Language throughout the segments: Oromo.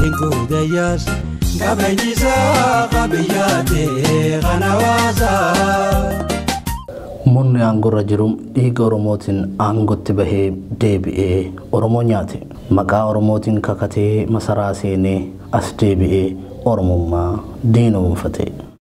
Hinguuda yaas qabeenyisaa qabiyyaatee kan hawaasaa. Murni aangorra jiru dhiiga Oromootiin aangootti bahee deebi'ee Oromoo nyaate. Maqaa Oromootiin kakatee masaraa seenee as deebi'ee Oromummaa diinoomfate.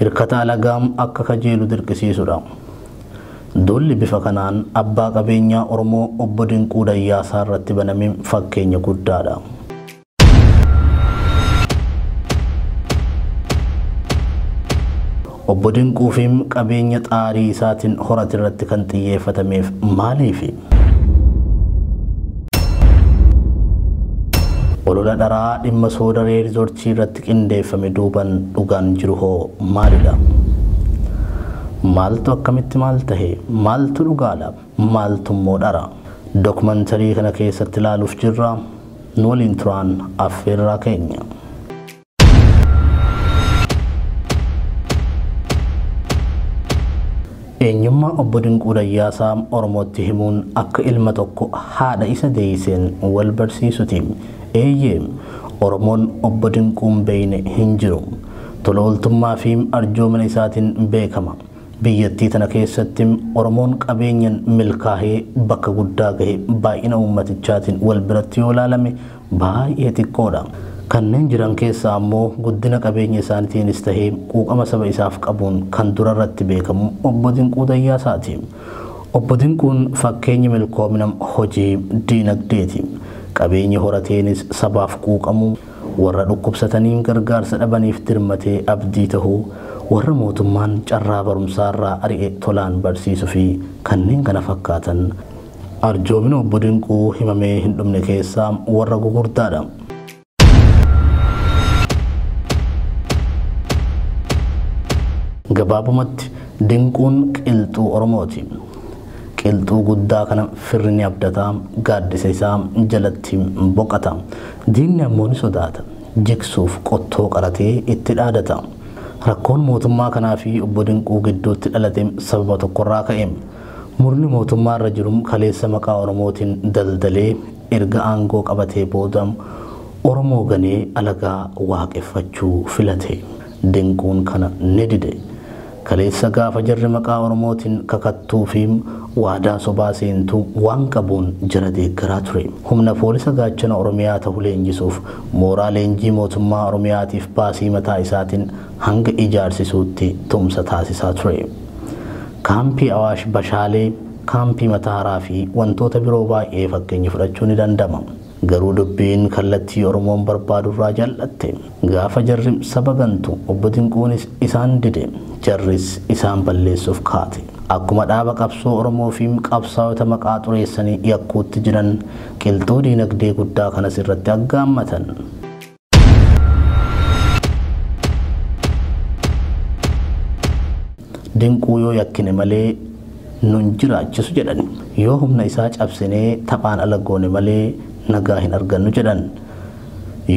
hirkata alagaa akka kajeelu dirqisiisudha. Duulli bifa kanaan abbaa qabeenyaa Oromoo Obbo Dinquu Dayyaasaa irratti baname fakkeenya guddaadha. Obbo Dinquufi qabeenya xaarii isaatiin horate irratti kan xiyyeeffatameef maaliifi? Olola dharaa dhimma soodaree rizoortii irratti qindeeffame duuban dhugaan jiru hoo maalidha? Maaltu akkamitti maal tahe? Maaltu dhugaadha? Maaltu immoo dhara? Dokumantarii kana keessatti ilaaluuf jirra. Nu waliin turaan affeerraa keenya. Eenyummaa obbo Dinquu Dayyaasaa Oromootti himuun akka ilma tokko haadha isa deeyseen wal barsiisuti. Eeyyee, Oromoon obbo Dinquun beeyne hin jiru. Tola ooltummaa fi arjoomina isaatiin beekama. Biyyattii tana keessatti Oromoon qabeenyan milkaahee bakka guddaa gahe baay'ina uummatichaatiin wal biratti yoo laalame baay'ee xiqqoodha. Kanneen jiran keessaa ammoo guddina qabeenya isaanitiinis tahee quuqama saba isaaf qabuun kan durarratti beekamu Obbo Dinquu Dayyaasaati. Obbo Dinquun fakkeenyi milkoomina hojii diinagdeeti. Qabeenyi horateenis sabaaf quuqamuu, warra dhukkubsatanii gargaarsa dhabaniif dirmatee abdii tahuu, warra mootummaan carraa barumsaarraa ari'e tolaan barsiisufi kanneen kana fakkaatan Arjoomina Obbo Dinquu himamee hin dhumne keessaa warra gugurdaadha. Gabaabumatti Dinquun qilxuu Oromooti. Qilxuu guddaa kana firri ni abdata, gaaddisa isaa jalatti boqata. Diinni ammoo ni sodaata. Jigsuuf qottoo qaratee itti dhaadata. Rakkoon mootummaa kanaa fi Obbo Dinquu gidduutti dhalate sababa tokkorraa ka'e. Murni mootummaa irra jiru kaleessa maqaa Oromootiin daldalee erga aangoo qabatee booda Oromoo ganee alagaa waaqeffachuu filate. Dinquun kana ni dide. Kaleessa gaafa jarri maqaa Oromootiin kakattuu fi waadaa sobaa seentu waan qabuun jara deeggaraa ture. Humna Poolisa Gaachana Oromiyaa tahu leenjisuuf mooraa leenjii mootummaa Oromiyaatiif baasii mataa isaatiin hanga ijaarsisuutti tumsa taasisaa ture. Kaampii Awaash Bashaalee, Kaampii Matahaaraa fi wantoota biroo baay'ee fakkeenya fudhachuu ni danda'ma. Garuu dubbiin kallattii Oromoon barbaadu irraa jal'atte. Gaafa jarri saba gantu Obbo Dinquunis isaan dide. Jarris isaan balleessuuf kaate. Akkuma dhaaba qabsoo Oromoo fi qabsaayota maqaa xureessanii yakkuutti jiran qilxuu diinagdee guddaa kanas irratti aggaammatan. dinquu yoo yakkine malee nun jiraachisu jedhan yoo humna isaa cabsinee taphaan ala goone malee nagaa hin argannu jedhan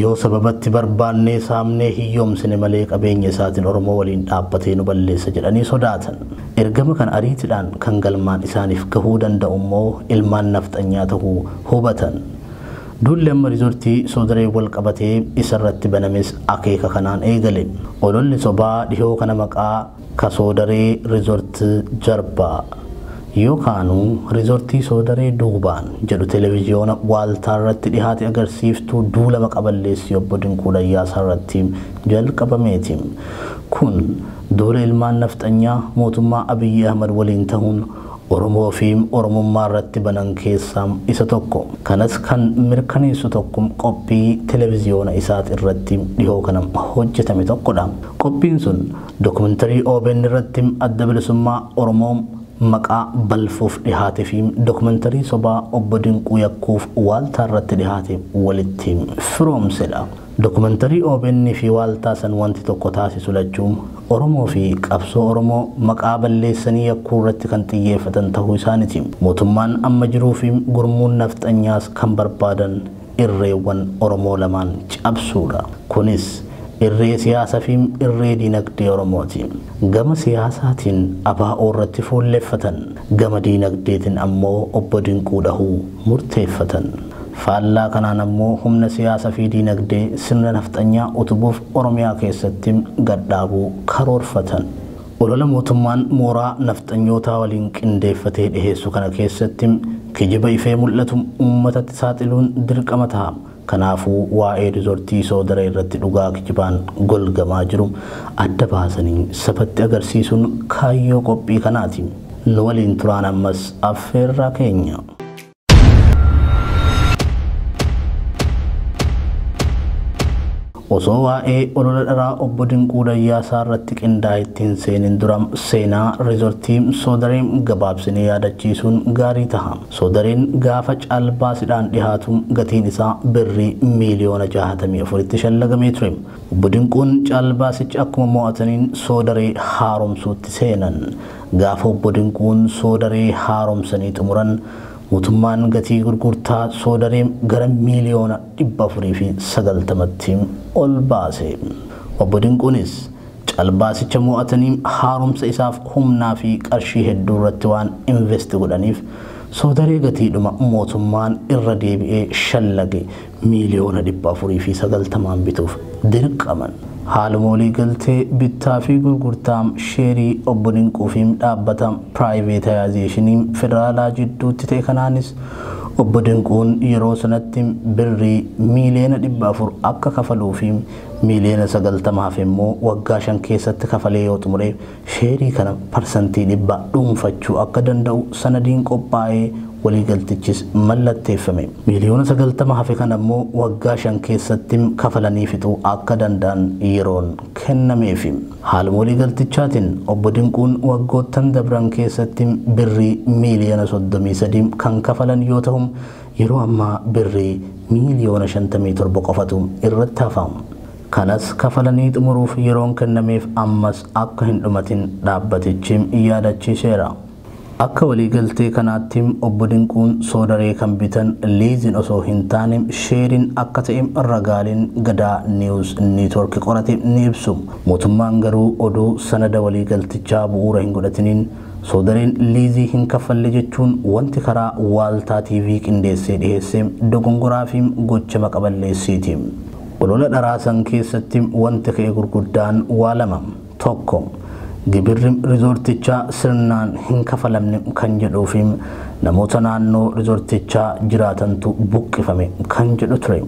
yoo sababatti barbaannee saamnee hiyyoomsine malee qabeenya isaatiin oromoo waliin dhaabbatee nu balleessa jedhanii sodaatan ergama kan ariitidhaan kan galmaan isaaniif gahuu danda'u immoo ilmaan nafxanyaa ta'uu hubatan Duulli amma Riizortii Soodareen walqabatee isarratti banames akeeka kanaan eegale. Ololli sobaa dhihoo kana maqaa Ka Soodaree Resort Jarba yookaanu Riizortii Soodaree Duubaan jedhu Televiziyoona Waaltaarratti dhihaate agarsiiftuu duula maqa balleessii Obbo Dinquu Dayyaasaarratti jalqabameeti. Kun duula ilmaan Nafxanyaa mootummaa Abiyyi Ahmad waliin tahuun Oromoo fi Oromummaa irratti banan keessaa isa tokko. Kanas kan mirkaneessu tokko qophii televiziyoona isaat irratti dhihoo kana hojjetame tokko dha. Qophiin sun dokumentarii obn irratti Adda Bilisummaa Oromoo maqaa balfuuf dhihaate fi dokumentarii sobaa Obbo Dinquu yakkuuf waaltaa irratti dhihaate walitti firoomse dha. Dokumantarii obn fi waaltaa san wanti tokko taasisu lachuu Oromoo fi qabsoo Oromoo maqaa balleessanii yakkuu irratti kan xiyyeeffatan tahuu isaaniti. Mootummaan amma jiruu fi gurmuun nafxanyaas kan barbaadan irreewwan Oromoo lamaan cabsuudha. Kunis irree siyaasa fi irree diinagdee Oromooti. Gama siyaasaatiin ABO irratti fuulleffatan. Gama diinagdeetin ammoo Obbo Dinquu dhahuu murteeffatan. Faallaa kanaan ammoo humna siyaasa fi diinagdee sirna nafxanyaa utubuuf Oromiyaa keessatti gad dhaabuu karoorfatan. Olola mootummaan mooraa nafxanyootaa waliin qindeeffatee dhiheessu kana keessatti kijiba ifee mul'atu uummatatti saaxiluun dirqama taha. Kanaafuu waa'ee rizortii Soodaree irratti dhugaa kijibaan golgamaa jiru adda baasanii sabatti agarsiisuun kaayyoo qophii kanaati. Nu waliin turaan ammas affeerraa keenya. Osoo waa'ee olola dharaa obbo Dinquu Dayyaasaa irratti qindaa'e itti hin seenin dura seenaa riizortii Soodaree gabaabsinee yaadachiisuun gaarii taha. Soodareen gaafa caalbaasidhaan dhihaatu gatiin isaa birrii miiliyoona 64tti shallagamee ture. Obbo Dinquun caalbaasicha akkuma mo'ataniin Soodaree haaromsuutti seenan. Gaafa Obbo Dinquun Soodaree haaromsanii xumuran mootummaan gatii gurgurtaa Soodaree gara miiliyoona 490tti ol baase. Obbo Dinquunis calbaasicha mo'atanii haaromsa isaaf humnaa fi qarshii hedduu irratti waan invest godhaniif Soodaree gatiidhuma mootummaan irra deebi'ee shallage miiliyoona 490n bituuf dirqaman. Haaluma waliigaltee bittaa fi gurgurtaa sheerii Obbo Dinquu fi dhaabbata piraayiveetayaazeeshinii federaalaa jidduutti ta'e kanaanis Obbo Dinquun yeroo sanatti birrii miiliyoona 400 akka kafaluu fi miiliyoona 90 hafe immoo waggaa shan keessatti kafalee yoo xumure sheerii kana parsantii dhibbaa dhuunfachuu akka danda'u sanadiin qophaa'ee waliigaltichis mallatteeffame. Miiliyoona 90 hafe kana immoo waggaa shan keessatti kafalanii fixuu akka danda'an yeroon kennameefi. Haaluma waliigaltichaatiin Obbo Dinquun waggoottan dabran keessatti Birrii miiliyoona 33 kan kafalan yoo tahu, yeroo ammaa Birrii miiliyoona 57 qofatu irratti hafa. Kanas kafalanii xumuruuf yeroon kennameef ammas akka hin dhumatin dhaabbatichi yaadachiiseera. Akka waliigaltee kanaatti Obbo Dinquun Soodaree kan bitan liiziin osoo hin taane sheeriin akka ta'e ragaaleen Gadaa News Network qorate ni ibsu. Mootummaan garuu odoo sanada waliigaltichaa bu'uura hin godhatiniin Soodareen liizii hin kaffalle jechuun wanti karaa Waaltaa TV qindeessee dhiheesse dogongoraa fi gocha maqa balleessiiti. Olola dharaa san keessatti wanti ka'e gurguddaan waa lama. Tokko, gibirri rizoortichaa sirnaan hin kafalamne kan jedhuu fi namoota naannoo rizoortichaa jiraatantu buqqifame kan jedhu ture.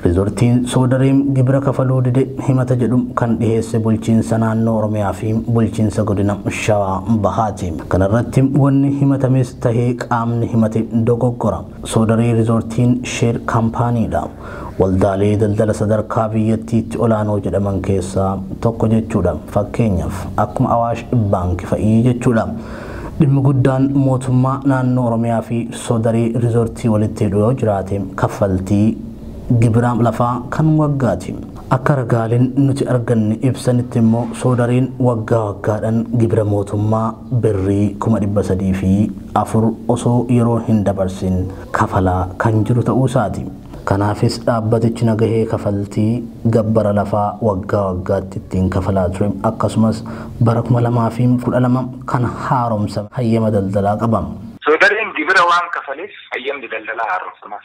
Rizoortiin Soodaree gibira kafaluu dide himata jedhu kan dhiheesse bulchiinsa naannoo Oromiyaa fi bulchiinsa godina Shawaa Bahaati. Kanarratti wanni himatames tahee qaamni himate dogoggora. Soodarii Rizoortiin Sheer Kaampaaniidha. Waldaalee daldala sadarkaa biyyattiitti olaanoo jedhaman keessaa tokko jechuudha. Fakkeenyaaf, akkuma Awaash Baanki fa'i jechuudha. Dhimmi guddaan mootummaa naannoo Oromiyaa fi Soodarii Rizoortii walitti hidhu yoo jiraate kaffaltii gibira lafaa kan waggaati. Akka ragaaleen nuti arganne ibsanitti immoo Soodariin waggaa waggaadhan gibira mootummaa Birrii kuma 304 osoo yeroon hin dabarsin kafalaa kan jiru ta'uu isaati. Kanaafis dhaabbatichi nagahee kafaltii gabbara lafaa waggaa waggaatti ittiin kafalaa ture akkasumas bara 2012 kan haaromsame hayyama daldalaa qaba. Soodareen gibira waan kafaleef hayyamni daldalaa haaromsamaaf.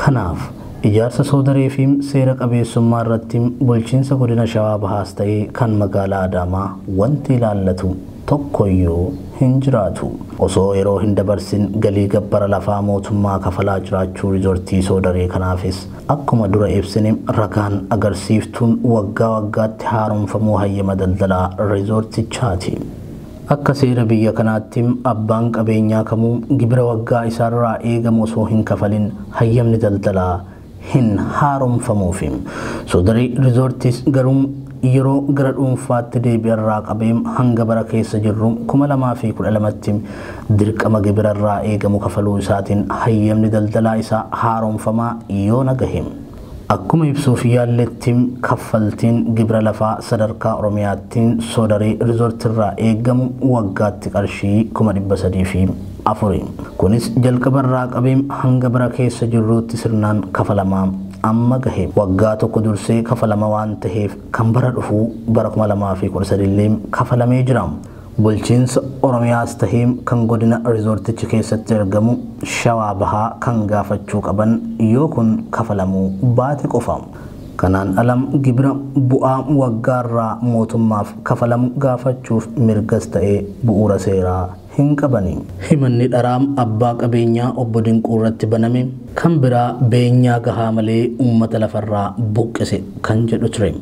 Kanaaf, ijaarsa soodareefi seera qabeessummaa irratti bulchiinsa godina Shawaa Bahaas ta'ee kan magaalaa Adaamaa wanti ilaallatu tokkoyyuu hin jiraatu. Osoo yeroo hin dabarsin galii gabbara lafaa mootummaa kafalaa jiraachuu rizortii soodaree kanaafis akkuma dura ibsine ragaan agarsiiftuun waggaa waggaatti haaromfamuu hayyama daldalaa rizortichaati. Akka seera biyya kanaatti abbaan qabeenyaa kamuu gibira waggaa isaarraa eegamu osoo hin kafalin hayyamni daldalaa hin haaromfamuufi. Soodari Rizoortiis garuu yeroo gara dhuunfaatti deebi'erraa qabee hanga bara keessa jirru 2012tti dirqama gibira irraa eegamu kafaluu isaatiin hayyamni daldalaa isaa haaromfamaa yoona gahe. Akkuma ibsuuf yaalletti, kaffaltiin gibira lafaa sadarkaa Oromiyaatti Soodaree Resort irraa eegamu waggaatti qarshii 304,000 i. Kunis jalqaba irraa qabee hanga bara keessa jirruutti sirnaan kafalamaa amma gahe. Waggaa tokko dursee kafalama waan taheef kan bara dhufuu bara 2013 illee kafalamee jira. Bulchiinsa Oromiyaas tahee kan godina rizoortichi keessatti argamu Shawaa Bahaa kan gaafachuu qaban yoo kun kafalamuu baate qofa. Kanaan ala gibira bu'aa waggaarraa mootummaaf kafalamu gaafachuuf mirgas ta'ee bu'uura seeraa hin qabani. Himanni dharaa abbaa qabeenyaa Obbo Dinquurratti baname kan biraa beenyaa gahaa malee uummata lafarraa buqqise kan jedhu ture.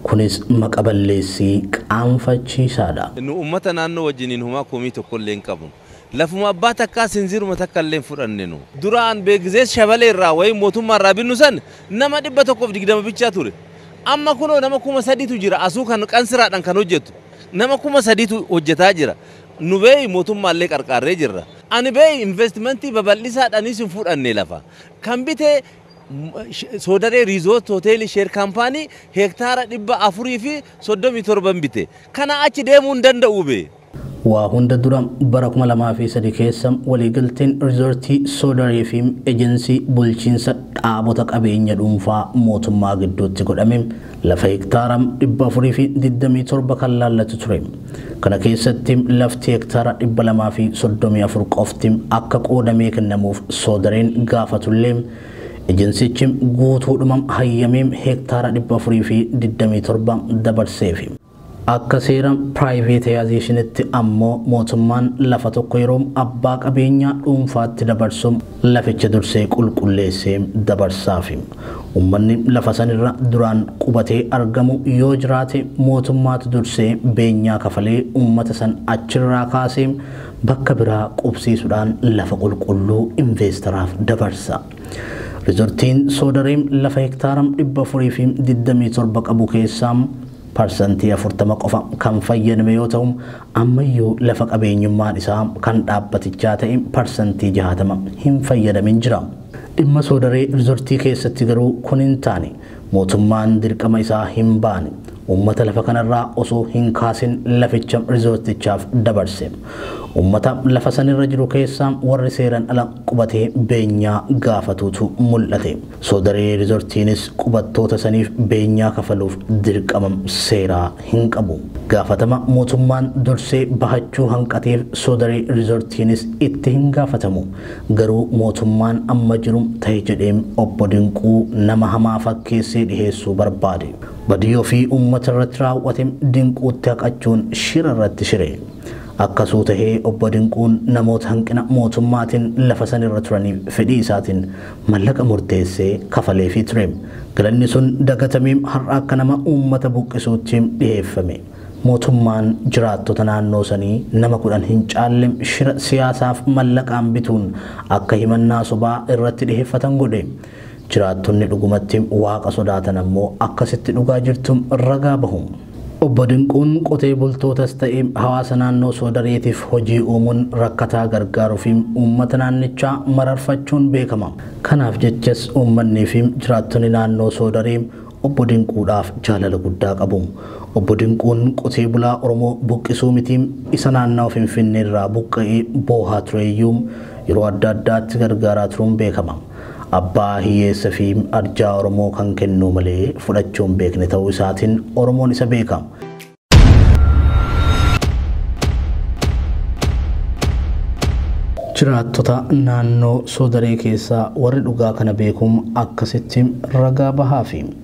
Kunis maqa balleessii qaanfachiisaadha. Nu ummata naannoo wajjiniin homaa komii tokkollee hin qabnu. Lafuma abbaa takkaa sinziiruma takkallee hin fudhanne nu. Duraan Beegizees Shabalee irraa wayim mootummaa irraa binnu san nama 120 bichaa ture. Amma kunoo nama 3000tu jira asuu kan qansiraadhan kan hojjatu. Nama 3000tu hojjataa jira. Nu beeyi mootummaallee qarqaarree jirra. Ani beeyi investmentii babal'isaadhaniis hin fudhanne lafa. Kan bite Soodaree Riizoort Hoteelii Sheer Kaampaanii heektaara 437n bite. Kanaa achi deemuu hin danda'uu bee. Waa hunda dura bara 2003 keessa waliigalteen Riizoortii Soodaree fi Ejensii Bulchiinsa Dhaabota Qabeenya Dhuunfaa Mootummaa gidduutti godhame Lafa hektaara 427 kan laallatu ture. Kana keessatti lafti hektaara 234 qofti akka qoodamee kennamuuf Soodareen gaafatullee Ejensichi guutuudhuma hayyamee hektaara 427 dabarseefi. Akka seera piraayiveetayaazeeshinitti ammoo mootummaan lafa tokko yeroo abbaa qabeenyaa dhuunfaatti dabarsu laficha dursee qulqulleessee dabarsaafi. Ummanni lafa sanirra duraan qubatee argamu yoo jiraate mootummaatu dursee beenyaa kafalee ummata san achirraa kaasee bakka biraa qubsiisudhaan lafa qulqulluu inveestaraaf dabarsa. Rizortiin Soodaree lafa hektaara 427 qabu keessaa. parsantii 40 qofa kan fayyadame yoo ta'u, ammayyuu lafa qabeenyummaan isaa kan dhaabbatichaa ta'e parsantii 60 hin fayyadamin jira. Dhimma Soodaree Rizortii keessatti garuu kun hin taane. Mootummaan dirqama isaa hin baane. Uummata lafa kanarraa osoo hin kaasin laficha Rizortichaaf dabarse. Uummata lafa sanirra jiru keessaa warri seeran ala qubatee beenyaa gaafatuutu mul'ate. Soodaree Rizortiinis qubattoota saniif beenyaa kafaluuf dirqama seeraa hin qabu. Gaafatama mootummaan dursee bahachuu hanqateef Soodaree Rizortiinis itti hin gaafatamu. Garuu mootummaan amma jiru tahe jedhee Obbo Dinquu nama hamaa fakkeessee dhiheessuu barbaade. Badii ofii ummata irratti raaw'ate Dinquutti haqachuun shira irratti shire. Akkasuu tahee Obbo Dinquun namoota hanqina mootummaatiin lafa san irra turaniif fedhii isaatiin Mallaqa murteessee kafaleefii ture. Galanni sun dagatamee har'a akka nama uummata buqqisuutti dhiheeffame. Mootummaan jiraattota naannoo sanii nama kudhan hin caalle shira siyaasaaf mallaqaan bituun akka himannaa sobaa irratti dhiheeffatan godhe. Jiraattonni dhugumatti Waaqa sodaatan ammoo akkasitti dhugaa jirtu ragaa bahu. Obbo Dinquun qotee bultootas ta'e hawaasa naannoo Soodareetiif hojii uumuun rakkataa gargaaruufi uummata naannichaa mararfachuun beekama. Kanaaf jechas uummanniifi jiraattonni naannoo Soodaree Obbo Dinquudhaaf jaalala guddaa qabu. Obbo Dinquun qotee bulaa Oromoo buqqisuu miti isa naannawa Finfinneerraa buqqa'ee boohaa tureyyuu yeroo adda addaatti gargaaraa turuun beekama. Abbaa hiyyeessa fi arjaa Oromoo kan kennuu malee fudhachuu hin beekne ta'uu isaatiin Oromoon isa beeka. Jiraattota naannoo Soodaree keessaa warri dhugaa kana beekuun akkasitti ragaa bahaafi.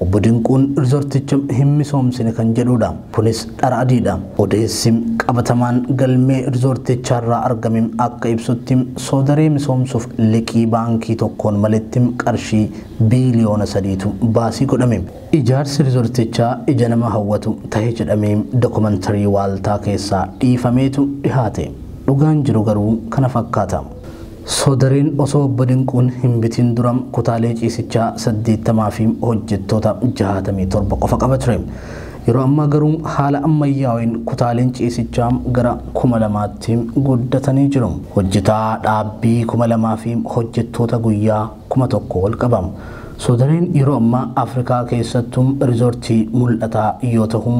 Obbo Dinquun rizoorticha hin misoomsine kan jedhuudha. Kunis dhara adiidha. Odeessi qabatamaan galmee rizoortichaarraa argame akka ibsutti Soodaree misoomsuuf liqii baankii tokkoon maletti qarshii biiliyoona sadiitu baasii godhame. Ijaarsi rizoortichaa ija nama hawwatu tahe jedhamee dokomantarii waaltaa keessaa dhiifameetu dhihaate. Dhugaan jiru garuu kana fakkaata. Soodariin osoo Obbo Dinquun hin bitiin dura kutaalee ciisichaa 80 fi hojjettoota 67 qofa qaba ture. Yeroo ammaa garuu haala ammayyaaween kutaaleen ciisichaa gara 2000tti guddatanii jiru. Hojjetaa dhaabbii 2000 fi hojjettoota guyyaa 1000 ol qaba. Soodariin yeroo ammaa Afrikaa keessattuu rizoortii mul'ataa yoo tahu,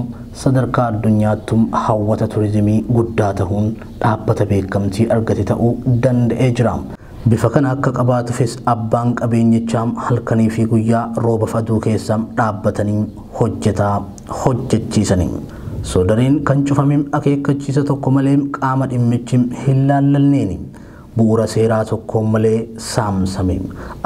sadarkaa addunyaattuu hawwata turizimii guddaa tahuun dhaabbata beekamtii argate ta'uu danda'ee jira. Bifa kana akka qabaatufis abbaan qabeenyichaa halkaniifi guyyaa roobaf aduu keessa dhaabbatanii hojjetaa hojjechiisani. Soodareen kan cufame akeekkachiisa tokko malee qaama dhimmichi hinlaallanneeni. Bu'uura seeraa tokkoon malee saamsame.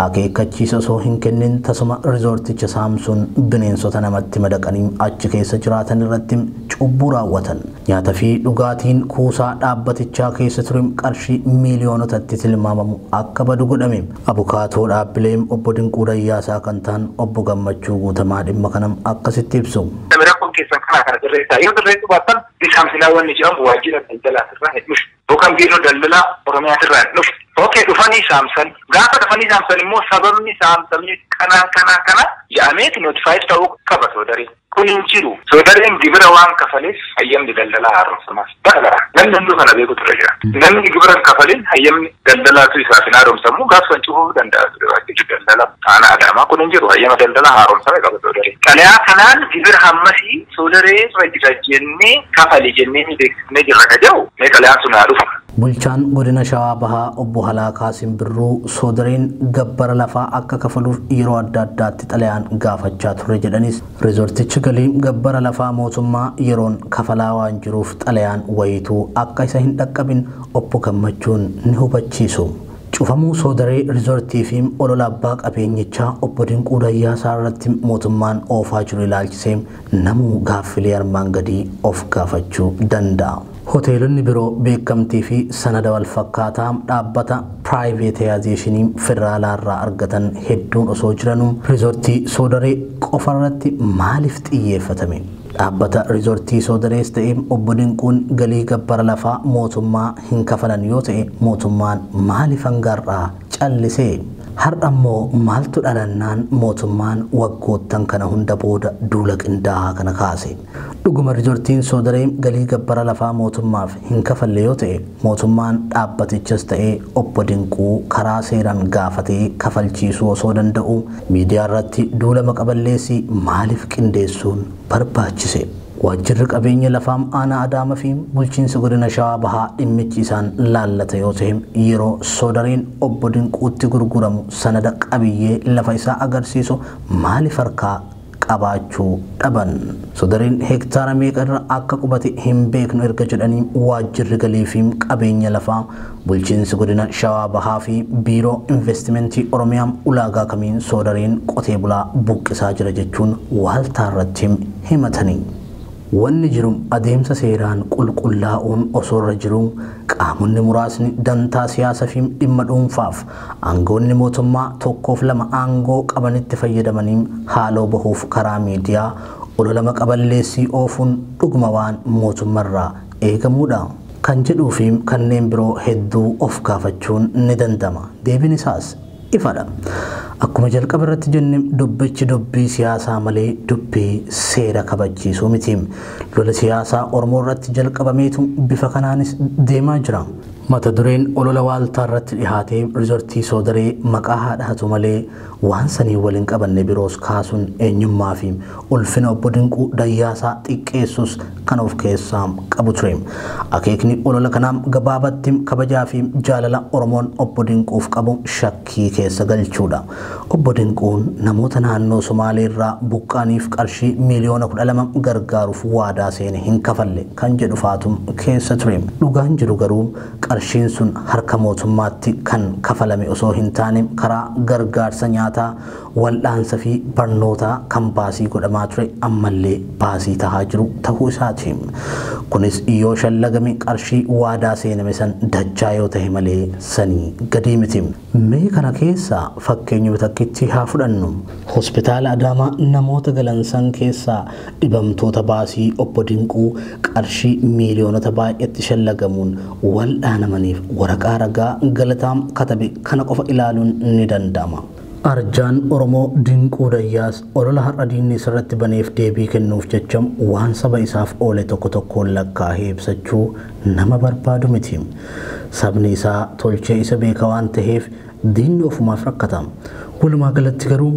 Akeekkachiisa osoo hin kennin tasuma rizoorticha saamsuun bineensota namatti madaqanii achi keessa jiraatan irratti cubbuu raawwatan. Nyaata fi dhugaatiin kuusaa dhaabbatichaa keessa ture qarshii miiliyoonotatti tilmaamamu akka badu godhame. Abukaatoo dhaabbilee Obbo Dinquu Dayyaasaa kan ta'an Obbo Gammachuu Guutamaa dhimma kana akkasitti ibsu. Rakkoon keessan kanaa kana sirreessaa. Yoo sirreessuu baattan ni saamsinaa wanni jedhamu waajjira daldalaatirraa hin dhufu. Yookaan biiroo daldalaa Oromiyaatirraa hin dhufne. Ok dhufanii saamsan. Gaafa dhufanii saamsan immoo sababni saamsamni kanaan kanaan kana ja'ameeti notifaayid ta'uu qaba soodaree. Kun hin jiru. Soodareen gibira waan kafaleef hayyamni daldalaa haaromsamaaf. Bara bara. Namni hunduu kana beekutu irra jira. Namni gibira hin kafalin hayyamni daldalaatu isaaf hin haaromsamu gaaf san cufuu danda'a ture waajjirri daldalaa aanaa Adaamaa kun hin jiru. Hayyama daldalaa haaromsame qaba soodaree. Xalayaa kanaan gibira hammasii soodaree irra jira jennee kafali jennee ni beeksisa. Hidhamnee jirra ka jedhu mee xalayaan sun haa dhufu. Bulchaan Godina Shawaa Bahaa Obbo Halaakaa Simbirruu, Soodareen gabbara lafaa akka kafaluuf yeroo adda addaatti xalayaan gaafachaa turre jedhanis, riizortichi galii gabbara lafaa mootummaa yeroon kafalaa waan jiruuf xalayaan wayiituu akka isa hin dhaqqabin Obbo Gammachuun ni hubachiisu. Cufamuu Soodaree Riizortii fi olola abbaa qabeenyichaa Obbo Dinquu Dayyaasaa irratti mootummaan oofaa jiru ilaalchisee, Namuu gaaffilee armaan gadii of gaafachuu danda'a. Hoteelonni biroo beekamtii fi sanada walfakkaataa dhaabbata piraayiveetayaazeeshinii federaalaa irraa argatan hedduun osoo jiranuu Riizortii Soodaree qofa irratti maaliif xiyyeeffatame? Dhaabbata Riizortii Soodarees ta'e Obbo Dinquun galii gabbara lafaa mootummaa hin kafalan yoo ta'e mootummaan maaliif hanga har'aa callise. Har'ammoo maaltu dhalannaan mootummaan waggoottan kana hunda booda duula qindaa'aa kana kaase? Dhuguma Rizortiin Soodaree galii gabbara lafaa mootummaaf hin kafalle yoo ta'e, mootummaan dhaabbatichas ta'ee Obbo Dinquu karaa seeran gaafatee kafalchiisuu osoo danda'uu miidiyaarratti duula maqa balleessii maaliif qindeessuun barbaachise? Waajjirri Qabeenya Lafaa Aanaa Adaama fi Bulchiinsi Godina Shawaa Bahaa dhimmichi isaan laallata yoo ta'e yeroo Soodareen Obbo Dinquutti gurguramu sanada qabiyyee lafa isaa agarsiisu maaliif harkaa qabaachuu dhaban? Sodareen hektaara meeqa irra akka qubate hin beeknu erga jedhanii Waajjirri Galii fi Qabeenya Lafaa Bulchiinsi Godina Shawaa Bahaa fi Biiroo Investimentii Oromiyaa ulaagaa kamiin soodariin qotee bulaa buqqisaa jira jechuun waaltaa irratti himatani. Wanni jiru adeemsa seeraan qulqullaa'uun osoo irra jiruu qaamonni muraasni dantaa siyaasa fi dhimma dhuunfaaf aangawoonni mootummaa tokkoof lama aangoo qabanitti fayyadamanii haaloo bahuuf karaa miidiyaa olola maqa balleessii oofuun dhuguma waan mootumma irraa eegamuudha? kan jedhuu fi kanneen biroo hedduu of gaafachuun ni danda'ama. Deebiin isaas ifadha. Akkuma jalqaba irratti jenne dubbichi dubbii siyaasaa malee dubbii seera kabachiisuu miti. Lola siyaasaa Oromoo irratti jalqabameetu bifa kanaanis deemaa jira. Mata dureen olola waaltaa irratti dhihaatee Rizortii Soodaree maqaa haa dhahatu malee Waan saniin wal hin qabanne biroos kaasuun eenyummaa fi ulfina Obbo Dinquu Dayyaasaa xiqqeessuus kan of keessaa qabu ture. Akeekni olola kanaa gabaabatti kabajaa fi jaalala Oromoon Obbo Dinquuf qabu shakkii keessa galchuu dha. Obbo Dinquun namoota naannoo Somaalee irraa buqqa'aniif qarshii miiliyoona 12 gargaaruuf waadaa seene hin kafalle kan jedhu faatu keessa ture. Dhugaan jiru garuu Qarshiin sun harka mootummaatti kan kafalame osoo hin taane karaa gargaarsa nyaataa, wal'aansa fi barnootaa kan baasii godhamaa ture ammallee baasii tahaa jiru tahuu isaati. Kunis yoo shallagame qarshii waadaa seename san dachaa yoo tahe malee sanii gadii miti. Mee kana keessaa fakkeenyuma takkitti haa fudhannu. Hospitaala Adaamaa namoota galan san keessaa dhibamtoota baasii Obbo Dinquu qarshii miiliyoonota baay'etti shallagamuun wal'aanamaniif waraqaa ragaa Galataa katabe kana qofa ilaaluun ni danda'ama. Arjaan Oromoo Dinquu Dayyaas olola har'a diinni isarratti baneef deebii kennuuf jecha waan saba isaaf oole tokko tokkoon lakkaahee ibsachuu nama barbaadu miti. Sabni isaa tolchee isa beeka waan taheef diinni ofumaaf rakkata. Walumaa galatti garuu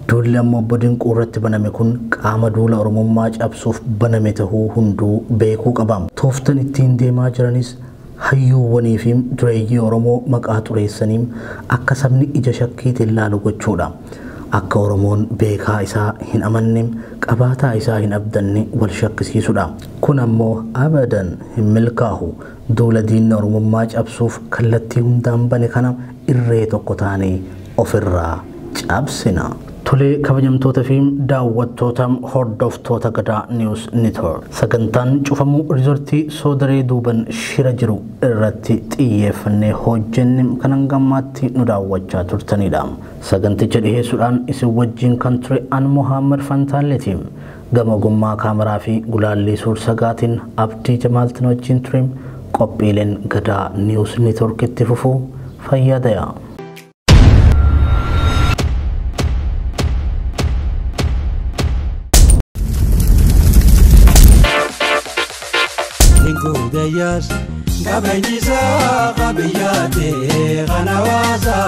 duulli amma Obbo Dinquu irratti baname kun qaama duula Oromummaa cabsuuf baname tahuu hunduu beekuu qaba. Tooftan ittiin deemaa jiranis hayyuuwwanii fi dureeyyii Oromoo maqaa xureessanii akka sabni ija shakkiitiin laalu gochuu dha. Akka Oromoon beekaa isaa hin amanne, qabaataa isaa hin abdanne wal shakkisiisu dha. Kun ammoo abadan hin milkaahu. Duula diinni Oromummaa cabsuuf kallattii hundaan bane kana irree tokko taanee ofirraa cabsina! Tole kabajamtoota fi daawwattoota hordoftoota Gadaa News Network, sagantaan cufamuu Riizortii Soodaree duuban shira jiru irratti xiyyeeffannee hojjenne kan hanga ammaatti nu daawwachaa turtaniidha. Saganticha dhiheessuudhaan isin wajjiin kan ture an Mohaammad Fantaalleeti. Gama ogummaa kaameraa fi gulaallii suur-sagaatiin Abdii Jamaal tin wajjiin ture. Qophiileen Gadaa News Network itti fufu. Fayyaa dayaa. Hinguudayyaas qabeenyisaa qabiyyaatee kana waasaa.